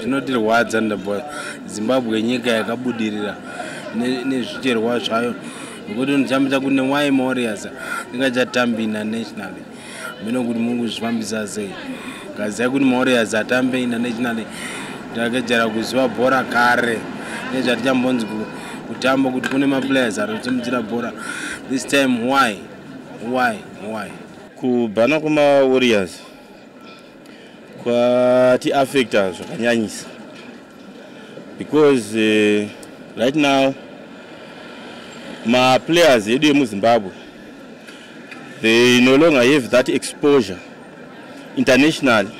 zvinotirwadza ndabva zimbabwe nyika yakabudirira nezvicherwa zvayo nekuti ndichambita kune wy morias ndingachatambi inational mino kuti muri kuzvifambisa sei kazia kuti morias atambe inational takejera kuziva bhora kare nezvatichambonzi kutamba kuti kune maplayers anotimudzira bhora this time why why why kubhana kwemawariors kwatiaffecta zvakanyanyisa because uh, right now maplayers edu emuzimbabwe they no longer have that exposure internationally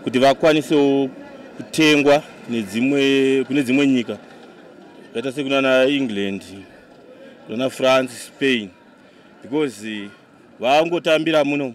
kuti vakwanisewo kutengwa nedzimwe kune dzimwe nyika zvakaita sekunana england kunana france spain because vangotambira muno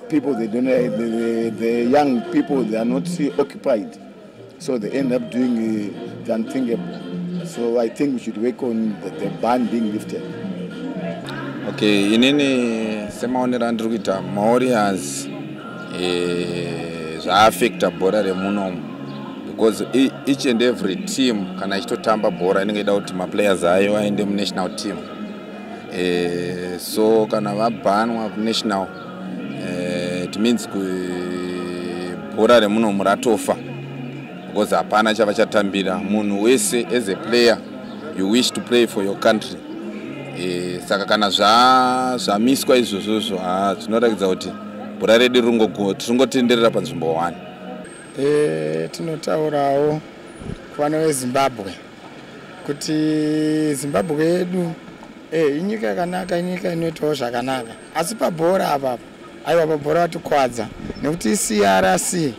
People they don't eh, the, the, the young people they are not occupied so they end up doing eh, the unthinkable. So I think we should work on the, the ban being lifted. Okay, inini semaonero andiri kuita maorians eh, zvaaffecta bhora remunomu because e, each and every team kana ichitotamba bhora inenge ida kuti maplayers ayo aende munational team eh, so kana vabhanwa kunational eh, it means bhora remunomu ratofa because hapana chava chatambira munhu wese as a player you wish to play for your country e, saka kana zvamiswa zva izvozvozvo ha zvinoratidza kuti bhora redu ringotenderera panzvimbo one e, tinotaurawo kuvana vezimbabwe kuti zimbabwe yedu e, inyika yakanaka inyika inoitawo zvakanaka asi pabhora apapa aiwa pabhora vatikwadza nekuti crc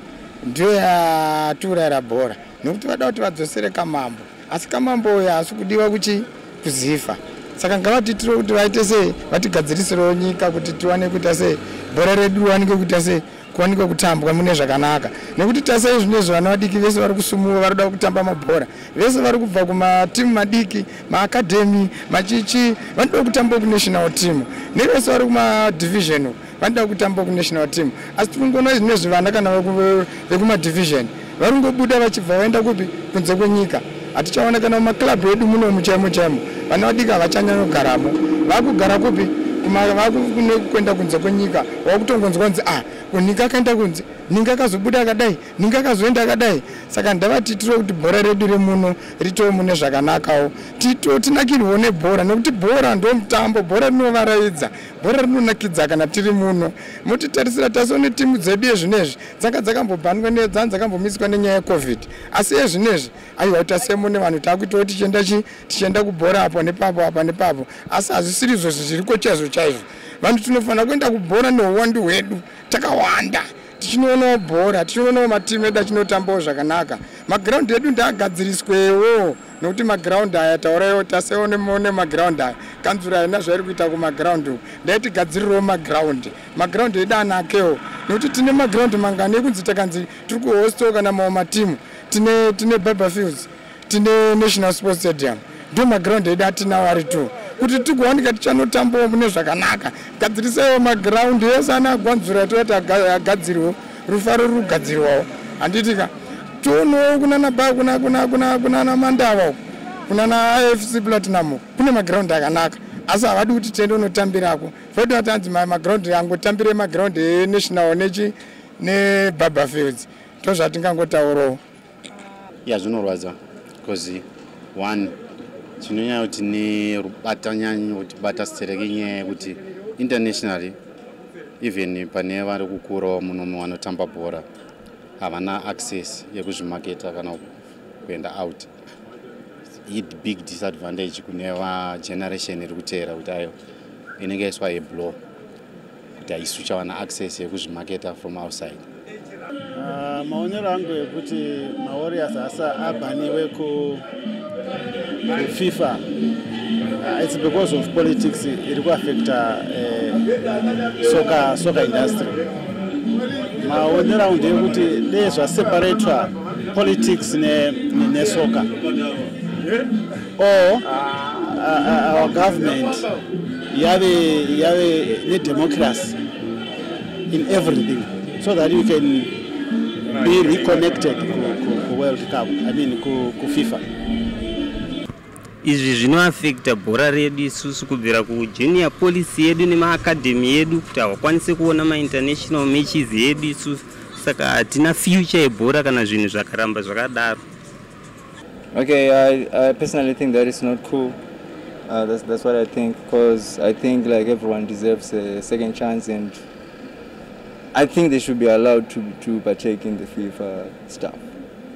ndiyo yatiurayira bhora nekuti vada kuti vadzosere kamambo asi kamambo uyo haasi kudiwa kuchi kuzifa saka ngavatiitire kuti vaite sei vatigadzirisirawo nyika kuti tiwane kuita sei bhora redu riwanike kuita sei kuwanikwa kutambwa mune zvakanaka nekuti tasai zvino izvo vana vadiki vese vari kusumuwa vari kuda kutamba mabhora vese vari kubva kumatimu madiki maakadhemi machichi vanoda kutamba kunational team nevese vari kumadivision vanoda kutamba kunational team asi tiri kungoona zvino izvi vana kana vekumadivision Varingobuda vachibva vaenda kupi kunze kwenyika. Hatichaona kana mumaklabhu edu muno muchaimo chaimo. Vana vadiki havachanyanyogaramo. Vakugara kupi? Vakuenda kunze kwenyika. Vakutongonzwa kunzi ah, kunika akaenda kunze. Ninga akazobuda akadai. Ninga akazoenda akadai. Saka ndavati tiro kuti bhora redu remuno ritowo mune zvakanakawo. Tito tinakirwo nebhora nekuti bhora ndo mutambo. Bhora rinovaraidza. Bhora rinonakidza kana tiri muno. Motitarisira taso netimu dzedu yezvinezvi. dzanga dzakambobhandwa nedzanga dzakambomiswa nenyaya yecovid asi ezvinezvi aiwa tasemo nevanhu taakuitawo tichienda chi tichienda kubhora apo nepapo apa nepapo asi hazvisiri izvo zviriko chaizvo chaizvo vanhu tinofanira kuenda kubhora neuwandu hwedu takawanda tichinoonawo bhora tichinoonawo matimu edu achinotambawo zvakanaka magiraundi edu ndaagadziriswewo nokuti magiraundi aya tauraiwo tasewo nemagiraundi aya kanzura haina zvairi kuita kumagiraundi uku ndaiti gadzirirewo magiraundi maground edu anakewo nekuti tine maground mangani ekunzi takanzi tiri kuhosto kana mawo matimu tine tine biber fields tine national sports stadium ndo maground edu atinawo ari two kuti tikuwanika tichanotambawo mune zvakanaka gadzirisaiwo maground ese ana agwanzura toati agadzirwo rufaro rugadzirwawo handitika toonowo kunana ba kunana mandava uku kunana ifc platinum kune maground akanaka asi havadi kuti tiende unotambirako Kwete vatanzi maground angotambire maground enational nechi nebarber fields ndozvatingangotaurawo ya zvinorwadza bcause one chinonyaya kuti nerubata nyanyi kuti bata stereke nyaya yekuti internationally even pane vari kukurawo munomu vanotamba bhora havana access yekuzvimaketa kana kuenda out ibig disadvantage kune vageneration iri kuteera kuti ayo inenge yaiswa yeblow kuti haisu chawana access yekuzvimaketa from outside ah, maonero angu ekuti mawarriors asi abhaniwe kufifa ah, its because of politics iri kuaffecta eh, soka soka industry maonero angu ndeyekuti dezvaseparatwa politics nesoka or our government yave yave nedemocracy in everything so that you can be reconnected ku world cup i mean ku fifa Izvi zvinoafekta bhora redu isusu kubvira kujunior policy yedu nemaacademy yedu kuti hawakwanise kuona mainternational matches yedu isusu saka hatina future yebhora kana zvinhu zvakaramba zvakadaro okay I, I personally think that is not cool uh, that's, that's what i think because i think like everyone deserves a second chance and i think they should be allowed to, to partake in the fifa stuff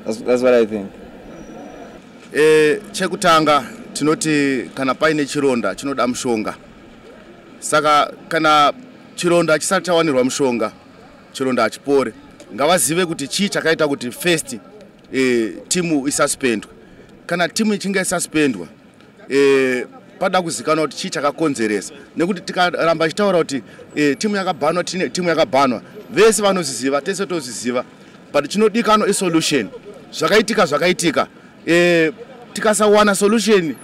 that's, that's what i think E, chekutanga tinoti kana paine chironda chinoda mushonga. Saka kana chironda chisati chawanirwa mushonga, chironda hachipore. Ngavazive kuti chii chakaita kuti first e, timu isuspendwe. Kana timu ichinge isuspendwa e, pada kuzikanwa kuti chii chakakonzeresa nekuti tikaramba ichitaura kuti e, timu yakabhanwa timu yakabhanwa vese vanozviziva tese tozviziva but chinodikanwa isolution zvakaitika zvakaitika e, tikasawana solution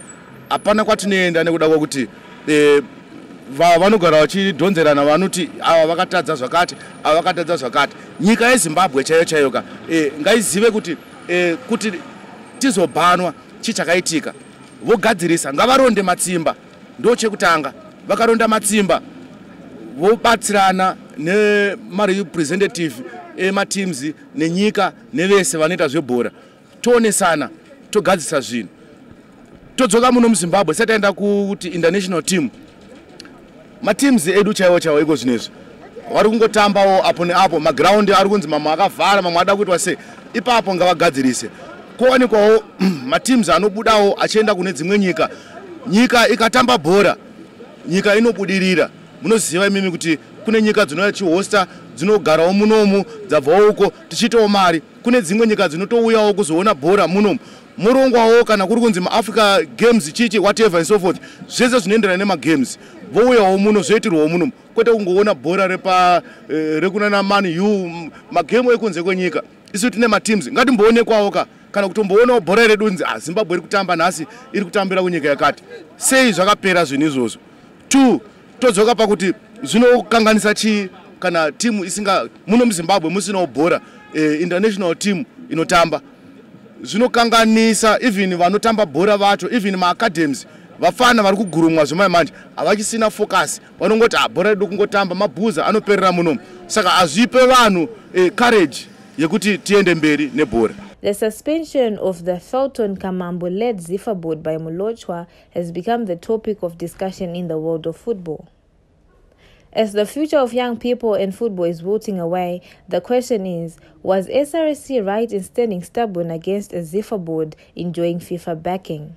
hapana kwatinoenda nekuda kwakuti e, vanogara vachidhonzerana vanoti ava vakatadza zvakati ava vakatadza zvakati nyika yezimbabwe chaiyo chaiyo ka e, ngaizive kuti e, kuti tizobhanwa chii chakaitika vogadzirisa ngavaronde matsimba ndochekutanga vakaronda matsimba vobatsirana nemarepresentative emateams nenyika nevese vanoita zvebhora toonesana togadzisa zvinhu todzoka muno muzimbabwe sati aenda kuti international team mateams edu chaiwo chaiwo iko zvino izvi vari kungotambawo apo neapo magraundi ari kunzi mamwe akavhara mamwe ada kuitwa sei ipapo ngavagadzirise kowanikwawo mateams anobudawo achienda kune dzimwe nyika nyika ikatamba bhora nyika inobudirira munoziva imimi kuti kune nyika dzinouya chihosta dzinogarawo munomu dzabvawo uko tichiitawo mari kune dzimwe nyika dzinotouyawo kuzoona bhora munomu morongwawo kana kuri kunzi maafrica games chichi whatever and so forth zvese zvinoenderana nemagames vouyawo muno zvoitirwawo munomu kwete kungoona bhora repa eh, rekunana man u magame ekunze kwenyika isu tine mateams ngatimboonekwawo ka kana kutomboonawo bhora iri dunzi ah, zimbabwe iri kutamba nhasi iri kutambira kunyika yakati sei zvakapera zvinhu izvozvo two todzoka pakuti zvinokanganisa chii kana timu isinga muno muzimbabwe musinawo bhora eh, international team inotamba zvinokanganisa even vanotamba bhora vacho even maacadhems vafana vari kugurumwa zvemai manje havachisina focus vanongoti ah, bhora redu kungotamba mabhuza anoperera muno saka hazvipe vanhu eh, courage yekuti tiende mberi nebhora The suspension of the Felton Kamambo led Zifa board by Mulochwa has become the topic of discussion in the world of football. As the future of young people and football is wilting away, the question is Was SRC right in standing stubborn against a Zifa board enjoying FIFA backing?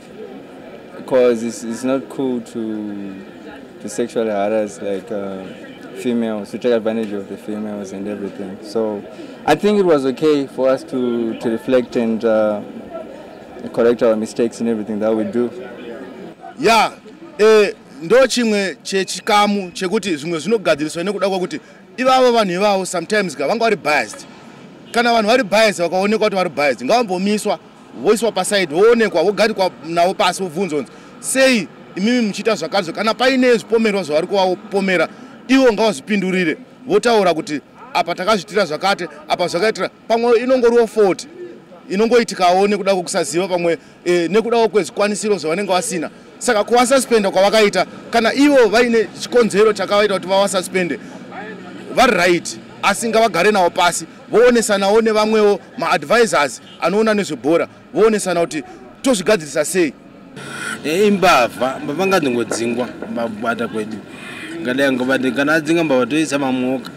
because it's, it's not cool to to sexually harass like uh, females to take advantage of the females and everything so i think it was okay for us to to reflect and uh, correct our mistakes and everything that we do yeah eh, ndo chimwe chechikamu chekuti zvimwe zvinogadziriswa nekuda kwakuti ivavo vanhu ivavo sometimes ka vanga vari biased kana vanhu vari biased vakaonekwa kuti vari biased ngavambomiswa voiswa paside voonekwa vogarikwa navo pasi vobvunzwa kunzi sei imimi muchiita zvakazve kana paine zvipomerwa zvavari kuvapomera ivo ngavazvipindurire votaura kuti apa takazviitira zvakati apa zvakaitira pamwe inongoriwo foti inongoitikawo nekuda kwekusaziva pamwe e, nekudawo kwezvikwanisiro zvavanenge vasina saka kuvasaspenda kwavakaita kana ivo vaine chikonzero chakavaita kuti vavasaspende vari right asi ngavagare navo pasi voonesanawo nevamwewo maadvisors anoona nezvebhora voonesana kuti tozvigadzirisa sei eh, imbavha mbavha ngadzingodzingwa mbabata kwedu ngadai ngobati kana adzinga mbavha toisa mamwoka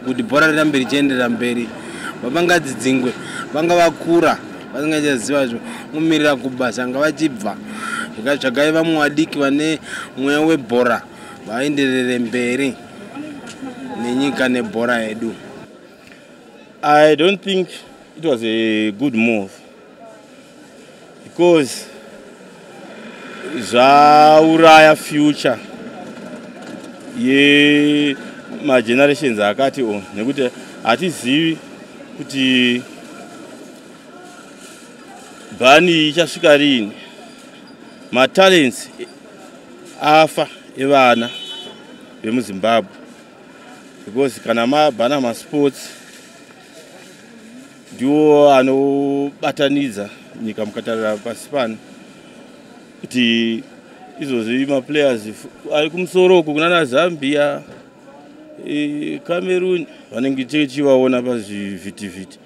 kuti bhora rirambe richienderera mberi mbavha ngadzidzingwe vanga vakura vasingachaziva zvo mumirira kubasa nga vachibva zvakatsvagai vamwe vadiki vane mweya webhora vaenderere mberi nenyika nebhora yedu I don't think it was a good move because zvauraya future yemagenerations akati o nekuti hatizivi kuti bhani ichasvika riini matalents afa evana vemuzimbabwe because kana mabhana masports ndiwo anobatanidza nyika mukatarira pasi pano kuti izvozvi maplayers ari kumusoro uku kunana zambia e, cameroon vanenge tichivaona pazvivhitivhiti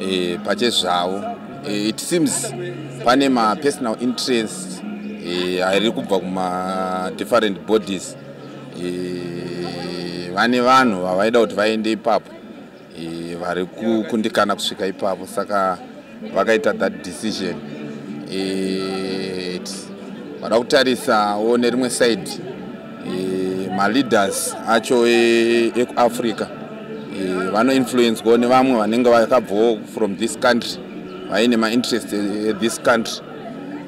e, pachezvavo e, it seems pane mapersonal interest e, ari kubva kumadifferent bodies e, vane vanhu vavaida kuti vaende ipapo e, vari kukundikana kusvika ipapo saka vakaita that decision e, vada kutarisawo nerimwe side e, maleaders acho e, ekuafrica e, vanoinfluencwa nevamwe vanenge vakabvawo from this country vaine mainterest ethis e, country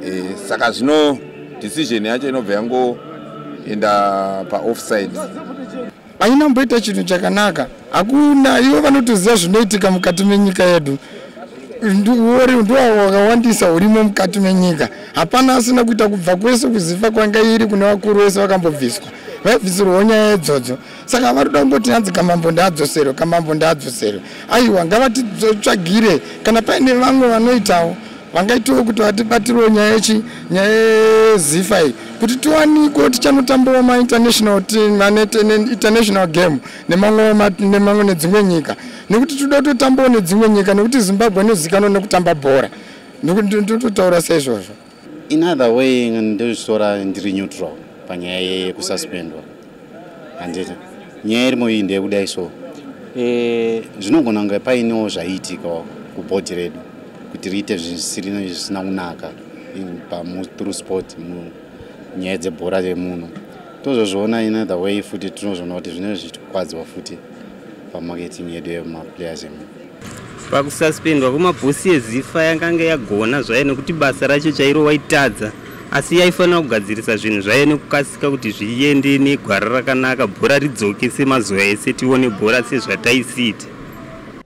e, saka zvino decision yacho inobva yangoenda paoffside aina mboita chinhu chakanaka hakuna ivo vanotoziva zvinoitika mukati menyika yedu ndiwori ndiwavo wakawandisa hurimo mukati menyika hapana asina kuita kubva kwese kuziva kwanga iri kune vakuru vese vakambobviswa vaibvisirwawo nyaya yedzodzo saka vari kuda kungoti hanzi kamambo ndaadzoserwe kamambo ndaadzoserwe aiwa ngavatitsvagire kana paine vamwe vanoitawo vangaitiwo kuti vatibatirwo nyaya yechi nyaya yezifa iyi kuti tiwaniko tichanotambova mainternational team aneinternational game nemamwe nedzimwe nyika nekuti tinoda kutotambawo nedzimwe nyika nekuti zimbabwe inozikanwa nekutamba bhora ndototaura seizvozvo in other way ndozvitora ndiri neutral panyaya yekususpendwa handiti nyaya irimo iyi ndeyekudai so eh, zvinogona kunge painewo zvaiitika kubhodhi redu kuti riite zvisirina zvisina kunaka pamuthrough sport munyaya dzebhora remuno tozozviona in other way futi tinozviona kuti zvinenge zvichitikwadziwa futi pamarketing yedu yemaplayers emu pakususpendwa kwemabhosi yezifa yakange yagona zvayo nekuti basa racho chairo waitadza asi yaifanira kugadzirisa zvinhu zvayo nekukasika kuti zviende negwara rakanaka bhora ridzoke semazuva ese tione bhora sezvataisiita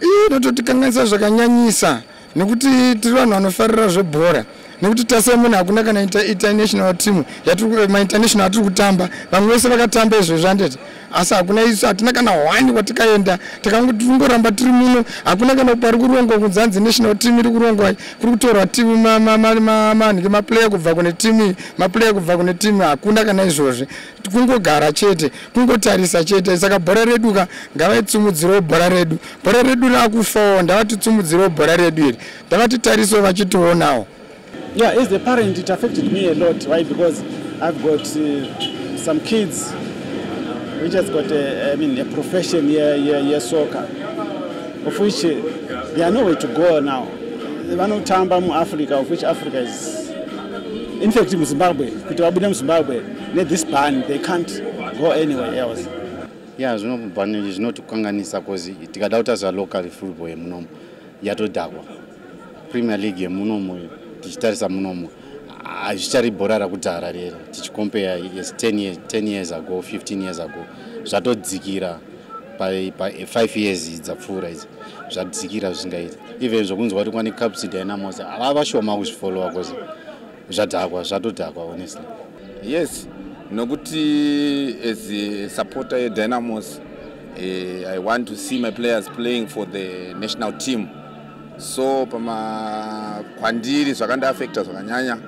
iyi inototikanganisa zvakanyanyisa nekuti tiri vanhu vanofarira zvebhora nekuti tase munhu hakuna kana international team eh, mainternational atiri kutamba vamwe vese vakatamba izvezvi anditi asi hakuna isu hatina kana hwani kwatikaenda takangoramba tiri muno hakuna kana pari kurongwa kunzanzi national team iri kurongwa kuri kutorwa timu manhike maplayer kubva kune timu maplayer kubva kune timu hakuna kana izvozvi kungogara chete kungotarisa chete saka bhora redu ka ngavaitsumudzirewo bhora redu bhora redu raakufawo ndavatitsumudzirewo bhora redu iri ndavatitarisewo vachitionawo yeah as a parent it affected me a lot why because i've got uh, some kids which has got a, I mean, a profession here, here, here soccer of which uh, they are nowhere to go now vanotamba muafrica of which africa is in fact muzimbabwe kuti vabude muzimbabwe ne this ban they can't go anywhere else ya zvinobhani izvi zvinotikanganisa bcause tikada kutazva local football yemunomo yatodhakwa premier league yemunomo tichitarisa munomo hazvichari bhora rakudhara rere tichikompeya yes 10 years, 10 years ago 15 years ago zvatodzikira pa5 years dzapfuura idzi zvadzikira zvisingaiti even zvokunzwa kuti kwani capsid haina mose ava vashoma kuzvifollowa bcause zvadhakwa zvatodhakwa honestly yes nokuti as a supporter yedynamos eh, i want to see my players playing for the national team so pama kwandiri zvakandiafecta zvakanyanya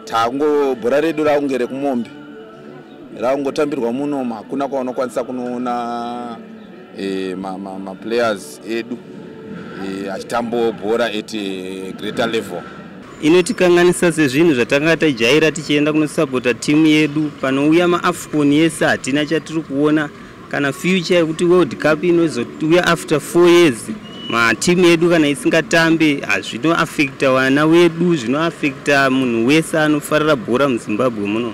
tango bhora redu rakunge rekumombe rakungotambirwa muno hakuna kwaunokwanisa kunoona e, maplayers ma, ma edu e, achitambawo bhora at e, greater level inotikanganisa sezvinhu zvatanga tajaira tichienda kunosapota timu yedu panouya maafcon yese hatina chatiri kuona kana future yekuti world cup inozouya after four years matimu edu kana isingatambe zvinoafekta vana wedu zvinoafekta munhu wese anofarira bhora muzimbabwe muno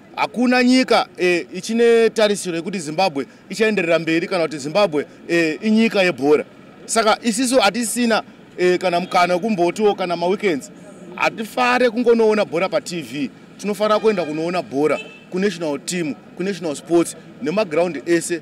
hakuna nyika e, ichine tarisiro yekuti zimbabwe ichaenderera mberi kana kuti zimbabwe e, inyika yebhora saka isisu hatisina e, kana mukana wekumbotiwo kana maweekends hatifare kungonoona bhora patv tinofanira kuenda kunoona bhora kunational team kunational sports nemagraundi ese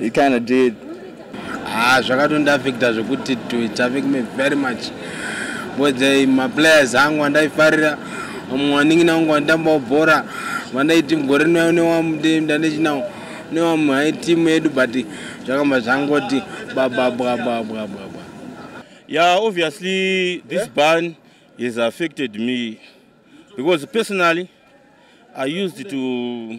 he kind of did ah zvakatondiaffecta zvekuti to it affect me very much because eh, maplayers angu andaifarira vamwe waningina vangu vanditambawo bhora vandaiti mugore rinoyo newamdandechinawo newamwe hai timu yedu but zvakamba zvangoti bababwabwabwabwa yeah obviously this yeah. ban has affected me because personally i used to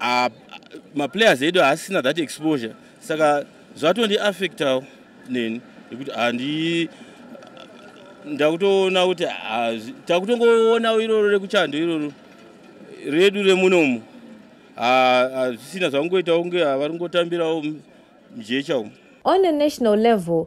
ah, maplayers edu haasina that exposure saka zvatondiaffectawo neni nekuti handi ndakutoona kuti takutongoona iroro rekuchando iroro redu remunomu hazvisina zvakungoitawo kunge vari kungotambirawo mjecha umu On a national level,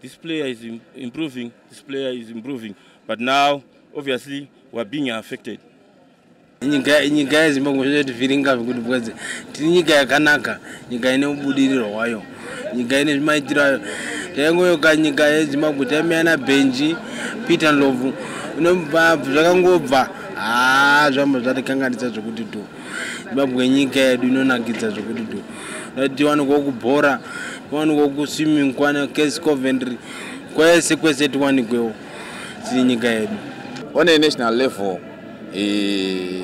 This player is improving, this player is improving, but now obviously we're being affected. nyika nyika yezimbabwe zvozotivhiringa zvekuti bwedze tiri nyika yakanaka nyika ine ubudiriro hwayo nyika ine zvimaitiro ayo taingoyoka nyika yezimbabwe taimeya nabhenji peter nlovu inobva zvakangobva haa zvamba zvatikanganisa zvekuti tu zimbabwe inyika yedu inonakidza zvekuti do dati tiwanikwa kubhora tiwanikwa kuswimming kwana case coventry kwese kwese tiwanikwewo tiri nyika yedu on a national level eh,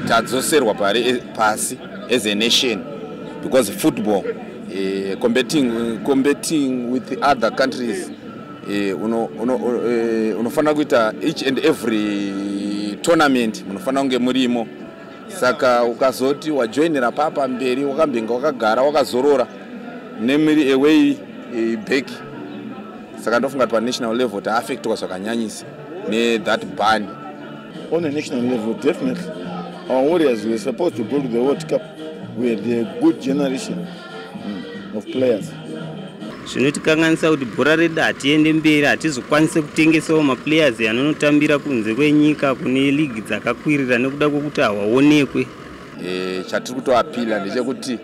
tadzoserwa pari eh, pasi as a nation because football eh, competing, competing with other countries Eh, eh, unofanira kuita each and every tournament munofanira kunge murimo saka ukazoti wajoinira papa mberi wakambinga wakagara wakazorora nemiri away eh, back saka ndofunga kuti panational level taaffectwa zvakanyanyisa nethat ban on a national level definitely our warriors were supposed to go to the world cup were the good generation of players zvinotikanganisa kuti bhora redu hatiende mberi hatizokwanise kutengesawo maplayers anonotambira kunze kwenyika kune ligi dzakakwirira nekuda kwekuti hawaonekwe e, chatiri kutoapila ndechekuti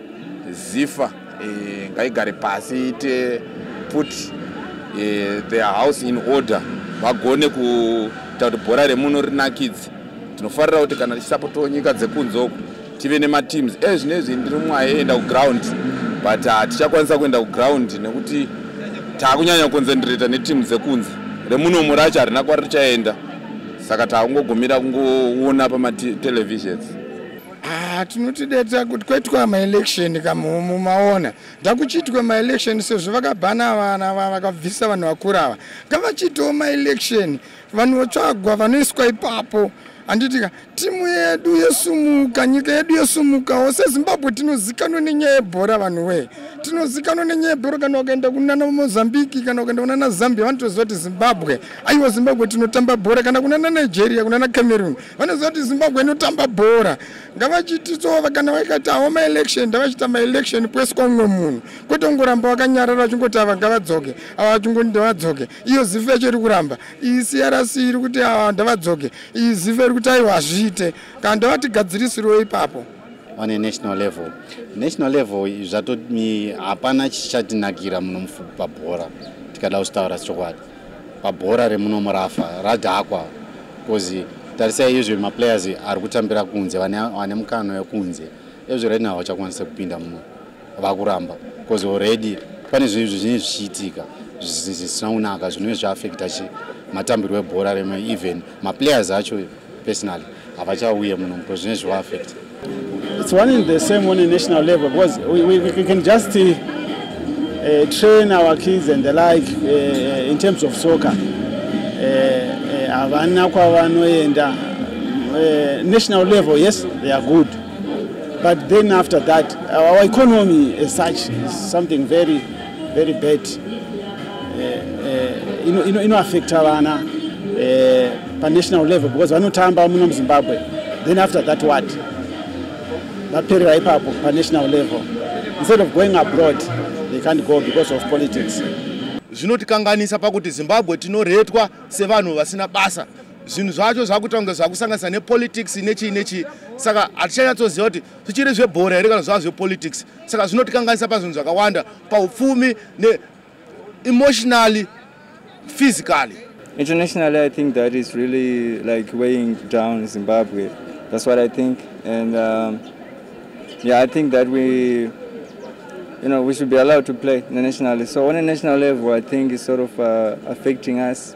zifa e, ngaigare pasi ite put e, their house in order vagone kuita kuti bhora remuno rinakidze tinofarira kuti kana tichisapotawo nyika dzekunze uku tive nemateams e eh, zvino izvi ndiri mwaye enda kuground but ah, tichakwanisa kuenda kuground nekuti taakunyanya kuconcentrata neteam dzekunze remunomu racho harina kwari richaenda saka taakungogumira kungoona pamatelevisions ah, tinotideta kuti kwaitwa maelection kamumu maona ndakuchiitwa maelection sezvo vakabhana vana vakabvisa vanhu vakura ava ngavachitawo maelection vanhu votsvagwa vanoiswa ipapo handitika timu yedu yesumuka nyika yedu yesumukawo sezimbabwe tinozikanwa nenyaya yebhora vanhu wee tinozikanwa nenyaya yebhora kana ukaenda kunana mozambiki kana ukaenda kunana zambia vanotoziva kuti zimbabwe aiwa zimbabwe tinotamba bhora kana kunana nigeria kunana cameroon vanoziva kuti zimbabwe inotamba bhora ngavachititsova kana vaikati awo maelection ndavachita maelection kwese kwaumwe munhu kwete kungoramba vakanyarara vachingoti ava ngavadzoke ava vachingoti ndavadzoke iyo zifu yacho iri kuramba iyi crc iri kuti ah, ndavadzoke iyi zifu iri kuti aiwa hazviite kana ndavatigadzirisirwo ipapo on a national level national level zvato hapana chichatinakira muno mufupi pabhora tikada kuchitaura chokwadi pabhora remuno murafa radhakwa bcause tarisai izvi maplayers ari kutambira kunze vane mukano wekunze ezvi right now vachakwanisa kupinda muno vakuramba bcause already pane zvinhu zvizhinji zvichiitika zvisina kunaka zvinove zviaffecta chi matambirwo ebhora rema even maplayers acho personally havachauye muno bcause zvine zvivaafecta it's one in the same one in national level because we, we, we can just uh, uh, train our kids and the like uh, uh in terms of soccer uh, uh, havana uh, kwavanoenda uh, national level yes they are good but then after that our economy as such is something very very bad eh, eh, inoaffecta vana eh, panational level because vanotamba muno muzimbabwe then after that what vaperera ipapo panational level instead of going abroad they can't go because of politics zvinotikanganisa pakuti zimbabwe tinoretwa sevanhu vasina basa zvinhu zvacho zvakuita kunge zvakusanganisa nepolitics nechii nechii saka hatichanyatsoziva kuti zvichiri zvebhora here kana zvava zvepolitics saka zvinotikanganisa pazvinhu zvakawanda paupfumi neemotionally physically internationally i think that is really like weighing down zimbabwe that's what i think and um, yeah i think that we you know we should be allowed to play internationally so on a national level i think is sort of uh, affecting us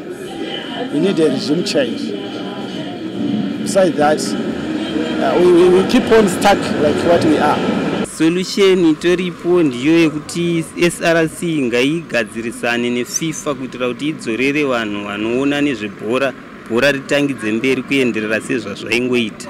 We need a regime change. Besides that, uh, we, we, we keep on stuck like what we are. Solution itoripo ndiyo yekuti SRC ngaigadzirisane neFIFA kuitira kuti idzorere vanhu vanoona nezvebhora bhora ritangidze mberi kuenderera sezvazvaingoita.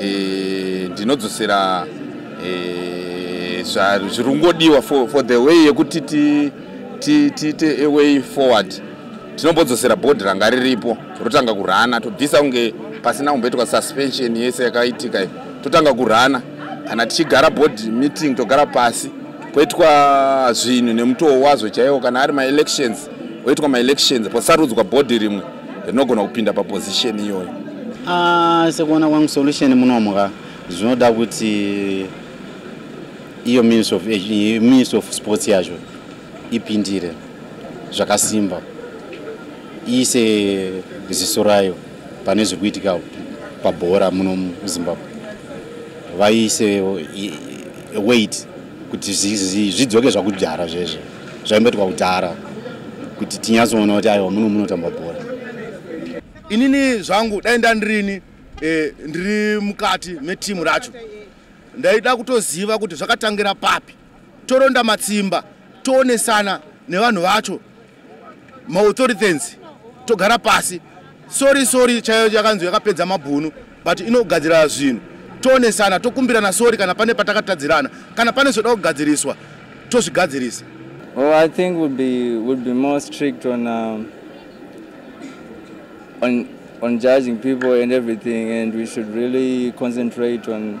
e, ndinodzosera e, zviri kungodiwa for, for the way yekuti tiite a way forward tinombodzosera bhodhi ranga riripo rotanga kurana tobvisa kunge pasina kumboitwa suspension yese yakaitika iyo totanga kurana kana tichigara board meeting togara pasi kwoitwa zvinhu nemutoo wazvo chaiwo kana ari maelections oitwa maelections posarudzwa bhodhi rimwe rinogona kupinda paposition iyoyo ah, sekuona kwangu solution munomwa zvinoda kuti iyo ministry of, ministry of sports yacho ipindire zvakasimba iise ziso rayo pane zviri kuitika pabhora muno muzimbabwe vaise weight kuti zvidzoke zvakudhara zvezvo zvaimboitwa kudhara kuti tinyatsoona kuti aiwa muno munotamba bhora inini zvangu dai ndandirini eh, ndiri mukati metimu racho ndaida kutoziva kuti zvakatangira papi toronda matsimba toonesana nevanhu vacho maauthorities togara pasi sori sori chaiyo yakanzi yakapedza mabhunu but inogadzira zvinhu toonesana tokumbirana sori kana pane patakatadzirana kana pane zvoda kugadziriswa tozvigadzirisa Oh, I think we'll be we'll be more strict on um, on on judging people and everything, and we should really concentrate on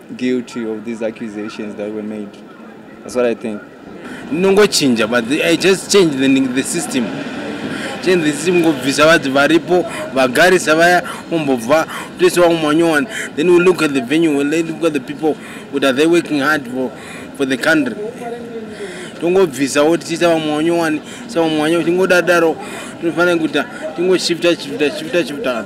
guilty of these accusations that were made that's what i think nongochinja but the, i just change the, the system change the system ngobvisa vati varipo vagarisa vaya umbobva toisa vamwe manyowani then we look at the venue we look at the people what are they working hard for, for the country tongobvisa wo tichiisa vamwe wanyowani sa vamwe wanyowani tingodadaro tinofanira kuita tingoshifta shifta shifta shifta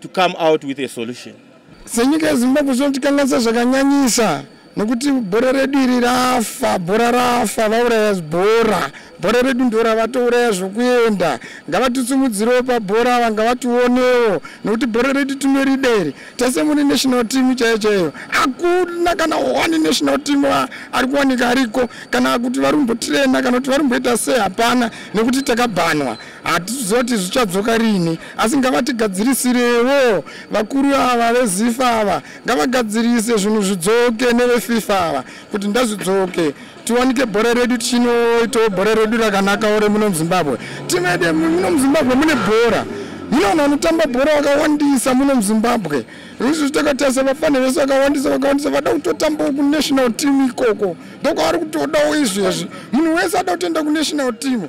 to come out with a solution. Senyika yeZimbabwe zvinotikanganisa zvakanyanyisa nokuti bhora redu iri rafa bhora rafa vauraya bhora bhora redu ndo ravatouraya zvokuenda ngavatitsumudzirewo pabhora ava ngavationewo nokuti bhora redu tinorida iri tese mune national team chaiyo chaiyo hakuna kana one national team ari kuwanika ariko kana kuti varumbotirena kana kuti varumboita sei hapana nekuti takabhanwa hatiziva kuti zvichadzoka rini asi ngavatigadzirisirewo vakuru ava vezifa ava ngavagadzirise zvinhu zvidzoke nevefifa ava kuti ndazvidzoke tiwanike bhora redu tichinoitawo bhora redu rakanakawo remuno muzimbabwe timede muno muzimbabwe mune bhora mune vanhu vanotamba bhora vakawandisa muno muzimbabwe izvi takatarisa vafani vese vakawandisa vakawandisa vada kutotambawo kunational team ikoko ndokwavari kutodawo izvezvi munhu wese ada kutoenda kunational team